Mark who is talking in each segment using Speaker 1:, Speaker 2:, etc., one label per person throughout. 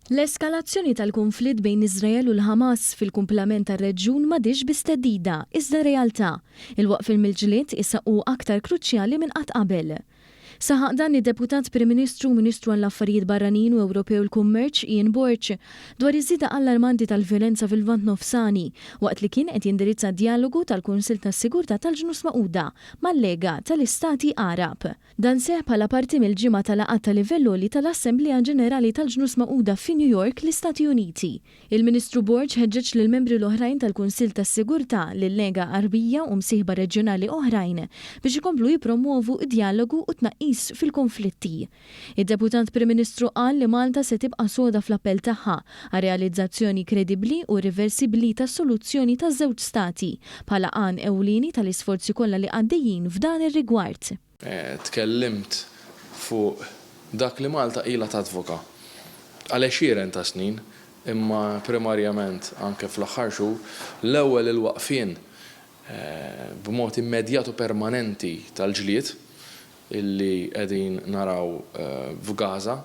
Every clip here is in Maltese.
Speaker 1: L-eskalazzjoni tal-kunflitt bejn Iżrael u l-Ħamas fil-kumplament tar-reġjun m'għadhiex biss theddida, iżda realtà. Il-waqfien mill-ġlied issa hu aktar kruċjali minn qatt qabel. Saħaq dan id-Deputat Prim Ministru u Ministru għall-Affarijiet Barranin u Ewropej u l-Kummerċ, Ian Borg, dwar iż-żieda allarmanti tal-vjolenza fil-Lvant Nofsani waqt li kien qed jindirizza djalogu tal-Kunsill tas-Sigurtà tal-Ġnus Magħquda mal-Lega tal-Istati Għarab. Dan seħħ bħala parti mill-ġimgħa ta' laqgħat ta' livell għoli tal-Assemblea Ġenerali tal-Ġnus Magħquda fi New York, l-Istati Uniti. Il-Ministru Borg ħeġġeġ lill-membri l-oħrajn tal-Kunsill tas-Sigurtà, lil-Lega Għarbija u msieħba reġjonali oħrajn biex ikomplu jippromwovu d-djalogu u t-tnaqqis fil-konflitti. Id-Deputat Prim Ministru qal li Malta se tibqa' soda fl-appell tagħha għar-realizzazzjoni kredibbli u irriversibbli ta' soluzzjoni ta' żewġ stati, bħala għan ewlieni tal-isforzi kollha li għaddejjin f'dan ir-rigward. Tkellimt
Speaker 2: fuq dak li Malta ilha tadvoka għal għexieren ta' snin, imma primarjament anke fl-aħħar xhur, l-ewwel il-waqfien b'mod immedjat u permanenti tal-ġlied, li qegħdin naraw f'Gaza,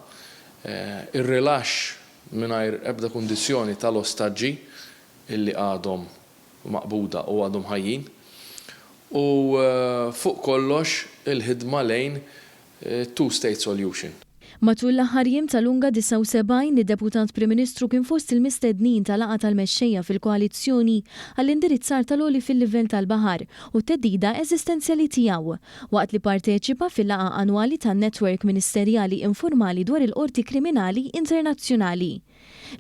Speaker 2: ir-rilaxx mingħajr ebda kundizzjoni tal-ostaġġi li għadhom maqbuda u għadhom ħajjin, u fuq kollox il-ħidma lejn two-state solution. Matul l-aħħar
Speaker 1: jiem ta' Lunga 79, id-Deputat Prim Ministru kien fost il-mistednin ta' laqgħa tal-mexxejja fil-koalizzjoni għall-indirizzar tal-għoli fil-livell tal-baħar u t-theddida eżistenzjali tiegħu, waqt li pparteċipa fil-laqgħa annwali tan-Netwerk Ministerjali Informali dwar il-Qorti Kriminali Internazzjonali.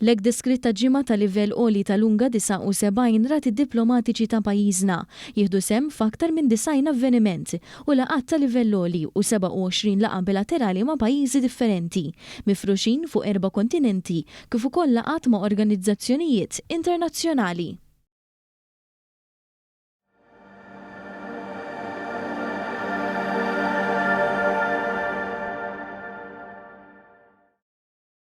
Speaker 1: L-hekk deskritta ġimgħa ta' livell għoli tal-UNGA 79 rat id-diplomatiċi ta' pajjiżna jieħdu sehem f'aktar minn 90 avveniment u laqgħat ta' livell għoli u 27 laqgħa bilaterali ma' pajjiżi differenti mifruxin fuq erba' kontinenti kif ukoll laqgħat ma' organizzazzjonijiet internazzjonali.